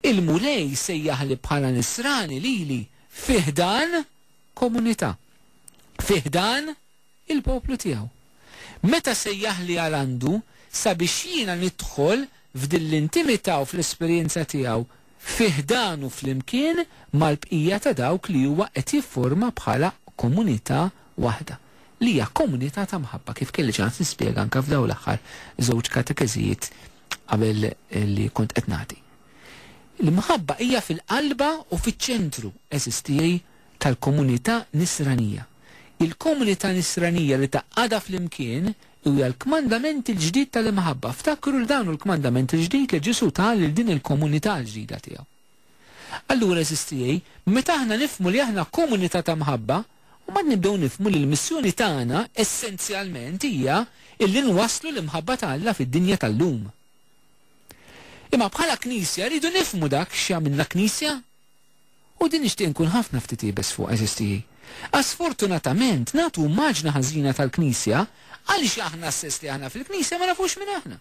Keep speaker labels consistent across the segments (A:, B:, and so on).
A: Il-Mulej sejjaħli bħala Nisrani lili fi ħdan komunità, fi ħdan il-poplu tiegħu. Meta sejjaħli għal għandu sabiex jiena nidħol f'din l-intimità u fl-esperjenza tiegħu fi ħdanu flimkien mal-bqija ta' dawk li huwa qed jifforma bħala komunità waħda, li hija komunità ta' mħabba, kif kelli ċans nispjega anke f'dawn l-aħħar żewġ katekeżijiet qabel li kont qed nagħti. L-imħabba hija fil-qalba u fiċ-ċentru, għeżież tiegħi, tal-komunità Nisranija. Il-komunità Nisranija li tgħaqqadha flimkien huja l-kmandament il-ġdid tal-imħabba. Ftakru li dan hu l-kmandament il-ġdid li Ġesù ta lil din il-komunità l-ġdida tiegħu. Allura, għeżież tiegħi, meta aħna nifhmu li aħna komunità ta' mħabba, mbagħad nibdew nifhmu li l-missjoni tagħna essenzjalment hija illi nwasslu l-imħabba ta' Alla fid-dinja tal-lum. Imma bħala Knisja rridu nifhmu dak x'jagħmilna Knisja. U din nixtieq inkun ħafna ftit iebes fuqha, għeżież tiegħi. Għax sfortunatament nagħtu immaġna ħażina tal-Knisja għaliex aħna stess li aħna fil-Knisja ma nafux min aħna.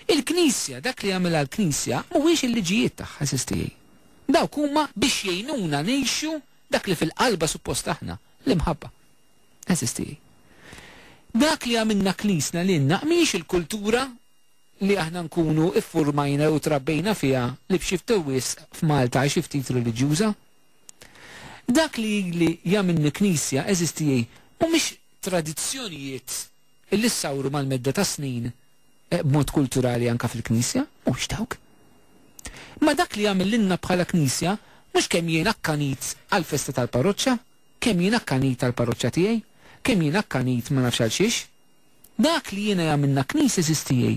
A: Il-Knisja, dak li jagħmilha l-Knisja, mhuwiex il-liġijiet tagħha, għażiż tiegħi. Dawk huma biex jgħinuna ngħixu dak li fil-qalba suppost aħna, l-imħabba. Għażiż tiegħi. Dak li għamilna Knisna lilna mhijiex il-kultura li aħna nkunu ffurmajna jew trabbejna fiha li b'xi ftit wisq f'Malta hi xi ftit reliġjuża. Dak li jagħmilni Knisja, għażiż tiegħi, mhumiex tradizzjonijiet Illi ssawru mal-medda tas-snin b'mod kulturali anke fil-Knisja, mhux dawk. Imma dak li jagħmel lilna bħala Knisja mhux kemm jien akkanit għall-festa tal-parroċċa, kemm jien akkanit għall-parroċċa tiegħi, kemm jien akkanit ma nafx għal xiex. Dak li jiena jagħmilna Knisja għażiż tiegħi,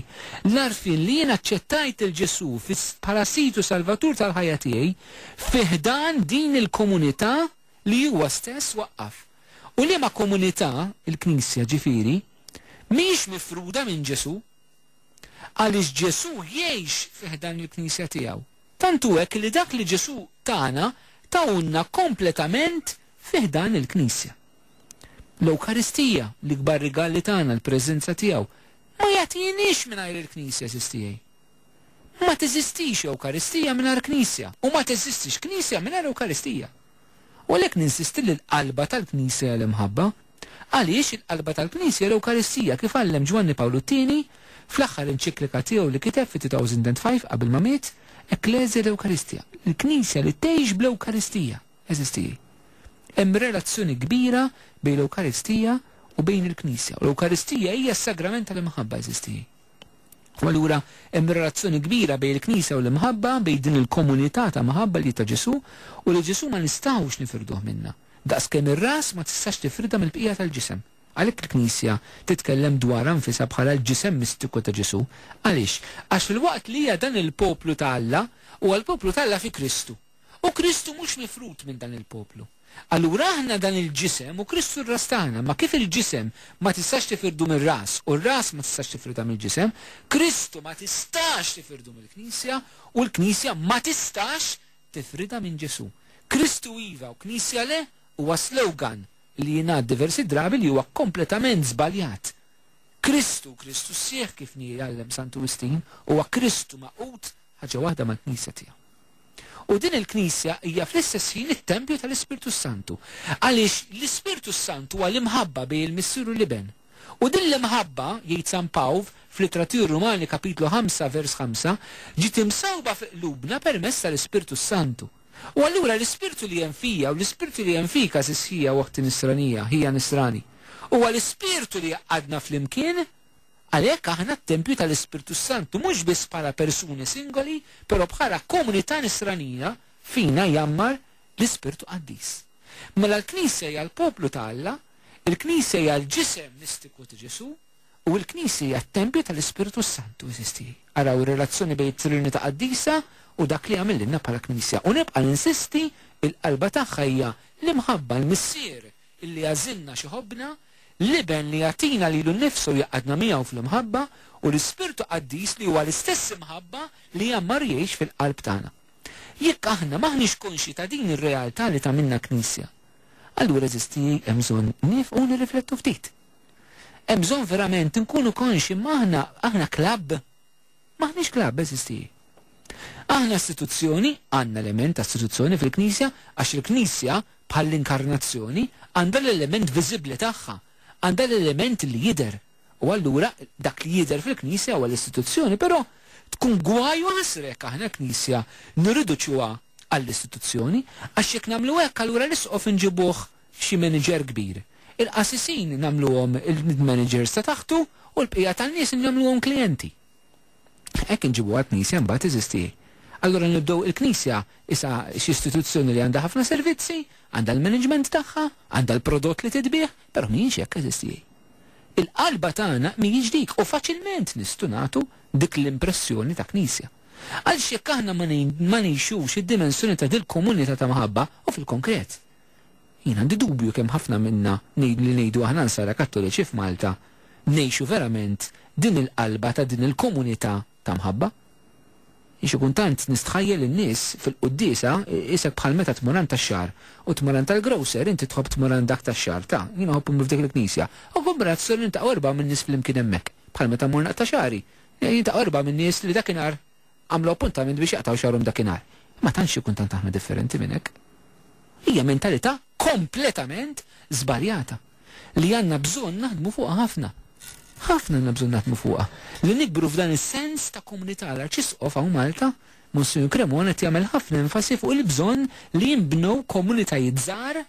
A: l-għarfien li jien aċċettajt lil Ġesù bħala Sid u Salvatur tal-ħajja tiegħi fi ħdan din il-komunità, li huwa stess waqqaf, u liema komunità, il-Knisja ġifieri, mhijiex mifruda minn Ġesù. Għaliex Ġesù jgħix fi ħdan il-Knisja tiegħu. Tant hu hekk li dak li Ġesù tana tahulna kompletament fi ħdan il-Knisja. L-Ewkaristija, l-ikbar rigal li tana, l-preżenza tiegħu, ma jagħtihiniex mingħajr il-Knisja, sistijie. Ma teżistix Ewkaristija mingħajr Knisja, u ma teżistix Knisja mingħajr Ewkaristija. U għalhekk ninsisti li l-qalba tal-Knisja hija l-imħabba. Għaliex, il-qalba tal-Knisja hija l-Ewkaristija, kif għallem Ġwanni Pawlu t-Tieni fl-aħħar enċiklika tiegħu li kiteb fit-2005 qabel ma miet, Ecclesia et Eucharistia, il-Knisja li tgħix bl-Ewkaristija. Eżisti. Hemm relazzjoni kbira bejn l-Ewkaristija u bejn il-Knisja, u l-Ewkaristija hija s-sagrament tal-imħabba. Eżisti. U allura hemm relazzjoni kbira bejn il-Knisja u l-imħabba, bejn din il-komunità ta' mħabba li hi ta' Ġesù, u li Ġesù ma nistgħux nifirduh minnha. Daqskemm ir-ras ma tistax tifridha mill-bqija tal-ġisem. Għalhekk il-Knisja titkellem dwarha nfisha bħala l-ġisem mistiku ta' Ġesù. Għaliex? Għax filwaqt li hija dan il-poplu ta' Alla, huwa l-poplu ta' Alla fi Kristu. U Kristu mhux mifrud minn dan il-poplu. Allura aħna dan il-ġisem u Kristu r-ras tagħna, imma kif il-ġisem ma tistax tifirdu mir-ras u r-ras ma tistax tifridha mill-ġisem, Kristu ma tistax tifirdu mill-Knisja u l-Knisja ma tistax tifridha minn Ġesù. Kristu iva u Knisja le huwa slogan li jingħad diversi drabi li huwa kompletament żbaljat. Kristu u Kristu sħiħ kif jgħallem Santu Wistin huwa Kristu magħqud ħaġa waħda mal-Knisja tiegħu. U din il-Knisja hija fl-istess ħin it-tempju tal-Ispirtu s-Santu. Għaliex l-Ispirtu s-Sant huwa l-imħabba bejn il-Missier u l-Iben. U din l-imħabba, jgħid San Pawl, fl-Ittra tiegħu r-Rumani kapitlu ħamsa vers ħamsa, ġiet imsewwba fi qlubna permezz tal-Ispirtu s-Santu. U allura l-Ispirtu li hemm fija u l-Ispirtu li hemm fik għażiż ħija u oħti nisranija, ħija nisrani, huwa l-Ispirtu li jgħaqqadna flimkien. Għalhekk aħna t-tempju tal-Ispirtu s-Santu mhux biss bħala persuni singoli, però bħala komunità Nisranija, fina jgħammar l-Ispirtu Qaddis. Mela l-Knisja hija l-poplu ta' Alla, il-Knisja hija l-ġisem mistiku ta' Ġesù, u l-Knisja hija t-tempju tal-Ispirtu s-Santu, għeżież tiegħi. Araw ir-relazzjoni bejn it-Trinità Qaddisa u dak li għamillilna bħala Knisja. U nibqa' ninsisti, il-qalba tagħha hija l-imħabba, l-Missier, li jagħżilna x'iħobbna, l-Iben li jagħtina lilu nnifsu u jgħaqqadna miegħu fl-imħabba, u l-Ispirtu Qaddis li huwa l-istess imħabba li jgħammar jgħix fil-qalb tagħna. Jekk aħna m'aħniex konxji ta' din ir-realtà li tagħmilna Knisja, allura eżisti hemm bżonn niefqu u nirriflettu ftit. Hemm bżonn verament inkunu konxji m'aħna, aħna klabb. M'aħniex klabb, eżisti. Aħna istituzzjoni, għandna element ta' istituzzjoni fil-Knisja għax il-Knisja, bħall-Inkarnazzjoni, għandha l-element viżibbli tagħha, għandha l-element li jidher. U allura dak li jidher fil-Knisja huwa l-istituzzjoni. Però tkun gwaj u ħasra jekk aħna l-Knisja nirriduċuha għall-istituzzjoni għax jekk nagħmlu hekk allura l-Isqof inġibuh f'xi manager kbir. Il-qassisin nagħmluhom il-managers ta' taħtu u l-bqija tan-nies nagħmluhom klijenti. Hekk inġibuha l-Knisja mbagħad, eżisti. Allura nibdew il-Knisja isha x'istituzzjoni li għandha ħafna servizzi, għandha l-management tagħha, għandha l-prodott li titbiegħ, però mhijiex hekk, eżisti. Il-qalba tagħna mhijiex dik u faċilment nistgħu nagħtu dik l-impressjoni ta' Knisja. Għaliex jekk aħna ma ngħixux id-dimensjoni ta' dil-komunità ta' mħabba u fil-konkret. Jien għandi dubju kemm ħafna minna ngħid li ngħidu aħna Nsara Kattoliċi f'Malta ngħixu verament din il-qalba ta' din il-komunità ta' mħabba. Jien xi kuntant nistħajjel in-nies fil-quddiesa qisek bħal meta tmur għand tax-xagħar u tmur għand tal-grocer inti tħobb tmur għand dak tax-xagħar ta' jien iħobb immur f'dik il-knisja u kombinazzjoni niltaqgħu erbgħa minn nies flimkien hemmhekk bħal meta mmur naqta' xagħri jiltaqgħu erbgħa minn nies li dakinhar għamlu appuntament biex jaqtgħu xagħrhom dakinhar. Ma tantx ikun tant aħna differenti minn hekk. Hija mentalità kompletament żbaljata li għandna bżonn naħdmu fuqha ħafna. Ħafna għandna bżonn naħdmu fuqha, li nikbru f'dan is-sens ta' komunità. L-Arċisqof hawn Malta, Monsinjur Cremona qed jagħmel ħafna enfasi fuq il-bżonn li jinbnew komunitajiet żgħar,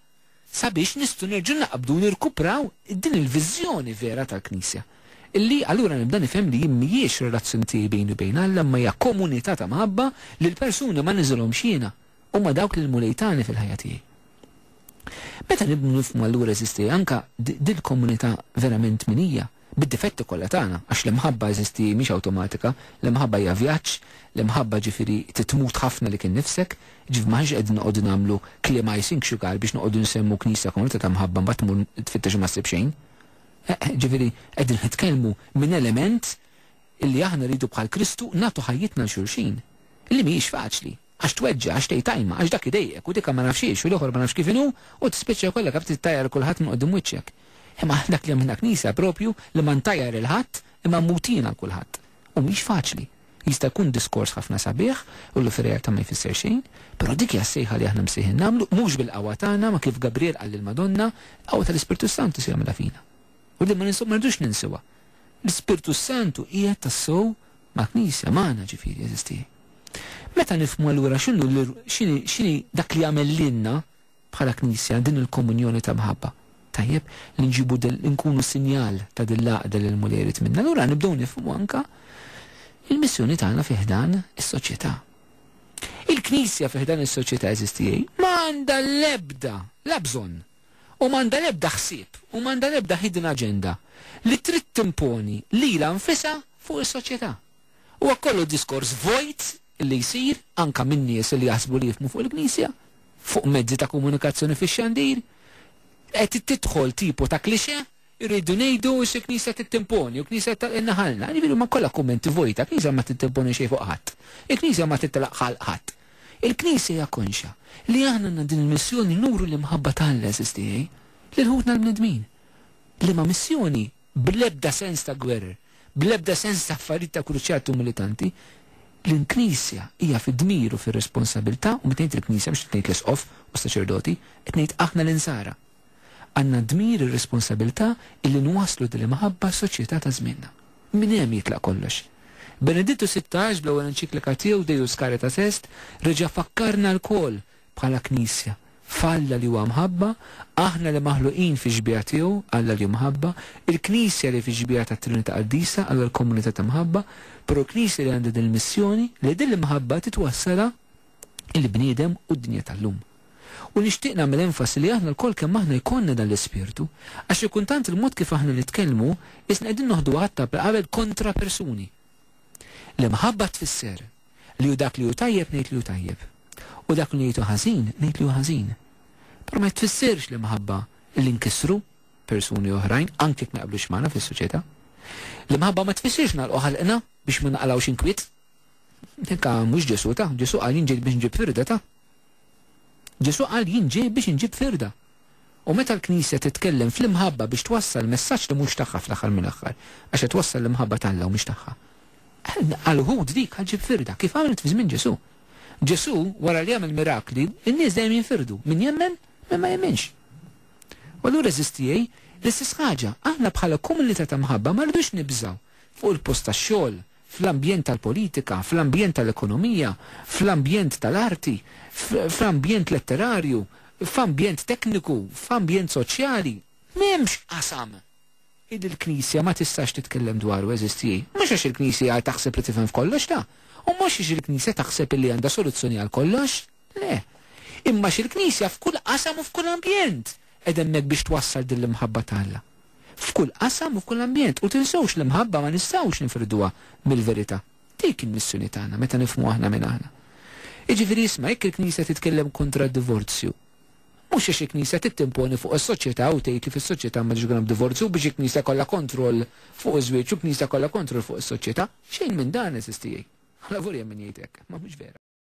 A: sabiex nistgħu nerġgħu naqbdu u nirkupraw din il-viżjoni vera tal-Knisja. Illi allura nibda nifhem li jien mhijiex relazzjoni tiegħi bejni u bejn Alla imma hija komunità ta' mħabba li l-persuni ma niżilhomx jiena, huma dawk li l-Mulej tani fil-ħajja tiegħi. Meta nibnu nifhmu allura eżisti anke din il-komunità verament min hija. bid-difetti kollha tagħna, għax l-imħabba, għeżiżti, mhix awtomatika, l-imħabba hija vjaġġ, l-imħabba ġifieri titmut ħafna lilek innifsek, ġifieri m'aħniex qegħdin noqogħdu nagħmlu kliem icing sugar biex noqogħdu nsemmu knisja komunità ta' mħabba mbagħad tmur tfittex u ma ssib xejn. Eħ, ġifieri qegħdin nitkellmu minn element illi aħna rridu bħal Kristu nagħtu ħajjitna 'l xulxin, illi mhijiex faċli. Għax tweġġa', għax tgħid ajma, għax dak idejjqek, u dika ma nafx x'iex, u l-ieħor ma nafx kif inhu, u tispiċċa jkollek għab tittajjar lil kulħadd minn quddiem wiċċek. Imma dak li hemm f'din il-Knisja proprju li ma ntajjar lil ħadd imma mmut jien għal kulħadd. U mhix faċli. Jista' jkun diskors ħafna sabiħ, u li fir-realtà ma jfisser xejn, però dik hija s-sejħa li aħna msejħin nagħmlu, mhux bil-qawwa tagħna ma kif Gabriel qal lill-Madonna, il-qawwa tal-Ispirtu s-Santu se jagħmilha fina. U din ma rridux ninsuha. L-Ispirtu s-Santu qiegħed tassew mal-Knisja, magħna ġifieri, għeżiżti. Meta nifhmu allura x'inhu x'inhi dak li jagħmel lilna bħala Knisja din il-komunjoni ta' mħabba, tajjeb li nġibu li nkunu sinjal ta' din l-għaqda li l-Mulej irid minna, allura nibdew nifhmu anke l-missjoni tagħna fi ħdan is-soċjetà. Il-Knisja fi ħdan is-soċjetà, għeżiżti, ma għandha l-ebda, la bżonn, u m'għandha l-ebda ħsieb u m'għandha l-ebda hidden agenda li trid timponi lilha nfisha fuq is-soċjetà. Huwa kollu diskors vojt li jsir, anke minn nies li jaħsbu li jifhmu fuq il-Knisja, fuq mezzi ta' komunikazzjoni fix-xandir. Qed tidħol tipu ta' cliché Irridu ngħidu xi Knisja trid timponi u Knisja trid tagħlqilna ħalqna. Jiġifieri huma kollha kummenti vojta, Knisja ma trid timponi xejn fuq ħadd. Il-Knisja ma trid telaq ħalq ħadd. Il-Knisja hija konxja li aħna għandna din il-missjoni nuru l-imħabba ta' Alla, għeżież tiegħi, lil ħutna l-bnedmin. Liema missjoni? Bl-ebda sens ta' gwerer, bl-ebda sens ta' affarijiet ta' kruċjati u militanti, l-Knisja hija fid-dmir u fir-responsabilità, u meta ngħid il-Knisja mhux qed ngħid l-Isqof u s-saċerdoti, qed ngħid aħna l-Insara. Għandna d-dmir, ir-responsabilità illi nwasslu din l-imħabba għas-soċjetà ta' żmienna. Minn hemm jitlaq kollox. Benedittu Sittax, bl-ewwel enċiklika tiegħu Deus Caritas Est, reġa' fakkarna lkoll, bħala Knisja, f'Alla li huwa mħabba, aħna li maħluqin fix-xbieha tiegħu, Alla li hu mħabba, il-Knisja li fix-xbieha tat-Trinità Qaddisa, Alla l-komunità ta' mħabba, però l-Knisja li għandha din il-missjoni, li din l-imħabba titwassalha, il-bniedem u d-dinja tal-lum. U nixtieq nagħmel enfasi li aħna lkoll kemm aħna jkollna dan l-ispirtu, għax xi kultant il-mod kif aħna nitkellmu qisna qegħdin noħdu għadd ta' qabel kontra persuni. L-imħabba tfisser li hu dak li hu tajjeb ngħid li hu tajjeb, u dak li ngħid hu ħażin ngħid li hu ħażin. Però ma tfissirx l-imħabba li nkissru persuni oħrajn anke jekk ma jaqblux magħna fis-soċjetà. L-imħabba ma tfissirx nagħlqu ħalqna biex ma naqlgħux inkwiet. Eka, mhux Ġesù ta? Ġesù qal jien ġejt biex nġib firda ta? Ġesù qal jien ġej biex inġib firda. U meta l-Knisja titkellem fl-imħabba biex twassal messaġġ li mhux tagħha fl-aħħar mill-aħħar, għax qed twassal l-imħabba t'Alla u mhix tagħha. Għal uħud dik qal ġib firda, kif għamlet fi żmien Ġesù. Ġesù, wara li għamel mirakli, in-nies dejjem jinfirdu, min jemmen, min ma jemminx. U allura eżistijej, l-istess ħaġa, aħna bħala komunità ta' mħabba ma rridux nibżgħu fuq il-post tax-xogħol, fl-ambjent tal-politika, fl-ambjent tal-ekonomija, fl-ambjent tal-arti, f'ambjent letterarju, f'ambjent tekniku, f'ambjent soċjali. M'hemmx qasam illi l-Knisja ma tistax titkellem dwaru, għeżież tiegħi. Mhux għax il-Knisja taħseb li tifhem f'kollox, la, u mhux għax il-Knisja taħseb illi għandha soluzzjoni għal kollox. Le. Imma x'il-Knisja f'kull qasam u f'kull ambjent qed hemmhekk biex twassal din l-imħabba ta' Alla. F'kull qasam u f'kull ambjent. U tinsewx l-imħabba ma nistgħux nifrduha mill-verità. Dik hi l-missjoni tagħna meta nifhmu aħna min aħna. Jiġifieri isma' jekk il-Knisja titkellem kontra d-divorzju, mhux għax il-Knisja trid timponi fuq is-soċjetà u tgħid li fis-soċjetà m'għandux ikun hemm divorzju u biex il-Knisja jkollha kontroll fuq iż-żwieġ u l-Knisja jkollha kontroll fuq is-soċjetà. Xejn minn dan, għeżież tiegħi. Avolja min jgħid hekk, imma mhux vera.